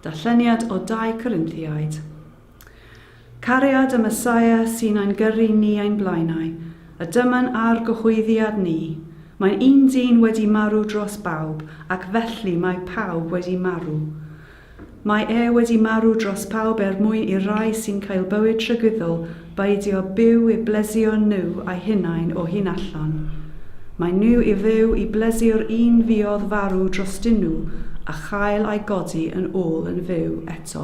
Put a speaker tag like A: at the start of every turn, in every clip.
A: Darlleniad o 2 Corinthiaid. Cariad y Mesaia sy'n ein gyrru ni ein blaenau, a dyma'n ar gyhoeddiad ni. Mae'n un dyn wedi marw dros bawb, ac felly mae pawb wedi marw. Mae e wedi marw dros pawb er mwyn i'r rhai sy'n cael bywyd tragwyddol beidio byw i blesio nhw eu hunain o hyn allan. Mae nhw i fyw i blesio'r un fuodd farw drostyn nhw a chael eu codi yn ôl yn fyw eto.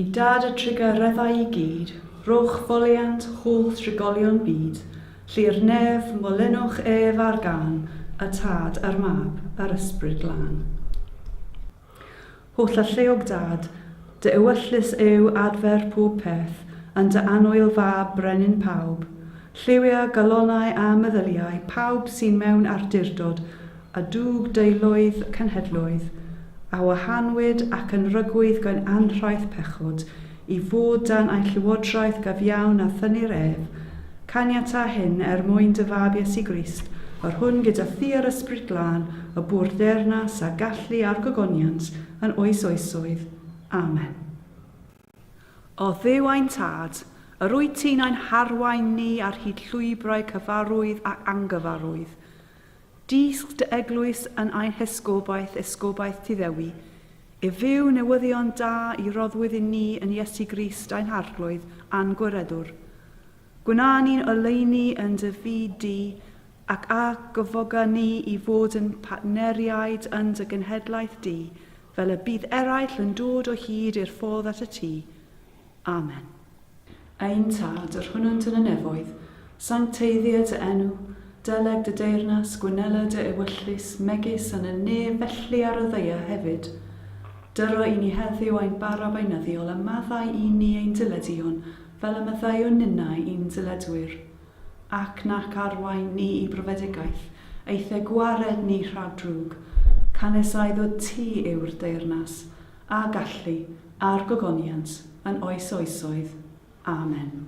A: I dad y trugareddau i gyd, rhowch foliant holl drigolion byd, Lly'r nef, molynwch ef ar gân, y Tad, a'r Mab, a'r Ysbryd Glân. Holl alluog Dad, dy ewyllys yw adfer pob peth, yn dy annwyl Fab, brenin pawb. Lliwia, galonau a meddyliau pawb sy'n mewn arturdod a dug deuluoedd cenhedloedd, a wahanwyd ac yn rygwyd gan anhraith pechod, i fod dan ein llywodraeth gafiawn a thynnir ef, caniata hyn er mwyn dy Fab Iesu Grist, yr hwn gyda thi a'r Ysbryd Glân y bu'r ddeyrnas a gallu a'r gogoniant yn oes oesoedd. Amen. O Dduw ein Tad, yr wyt ti'n ein harwain ni ar hyd llwybrau cyfarwydd ac angyfarwydd. Dysg dy Eglwys yn ein hesgobaeth, esgobaeth ti Ddewi, i fyw newyddion da i roddwyd i ni yn Iesu Grist ein Harglwydd a'n Gwiredwr. Gwna ni'n oleuni yn dy fyd di, ac a gyfoga ni i fod yn partneriaid yn dy genhedlaeth di, Fel y bydd eraill yn dod o hyd i'r ffordd at y tŷ. Amen. Ein Tad, yr hwnnwnt yn y nefoedd, sancteiddia dy enw, deleg dy deyrnas, gwynela dy ewyllys, megis yn y nef felly ar y ddaear hefyd. Dyro i ni heddiw ein bara beunyddiol a maddau i ni ein dileduon fel y maddeuwn ninnau i'n diledwyr. ac nac arwain ni i brofedigaeth, eithe gwared ni rhag drwg, canys ai ddod ti yw'r deyrnas, a gallu, a'r gogoniant, yn oes oesoedd. Amen.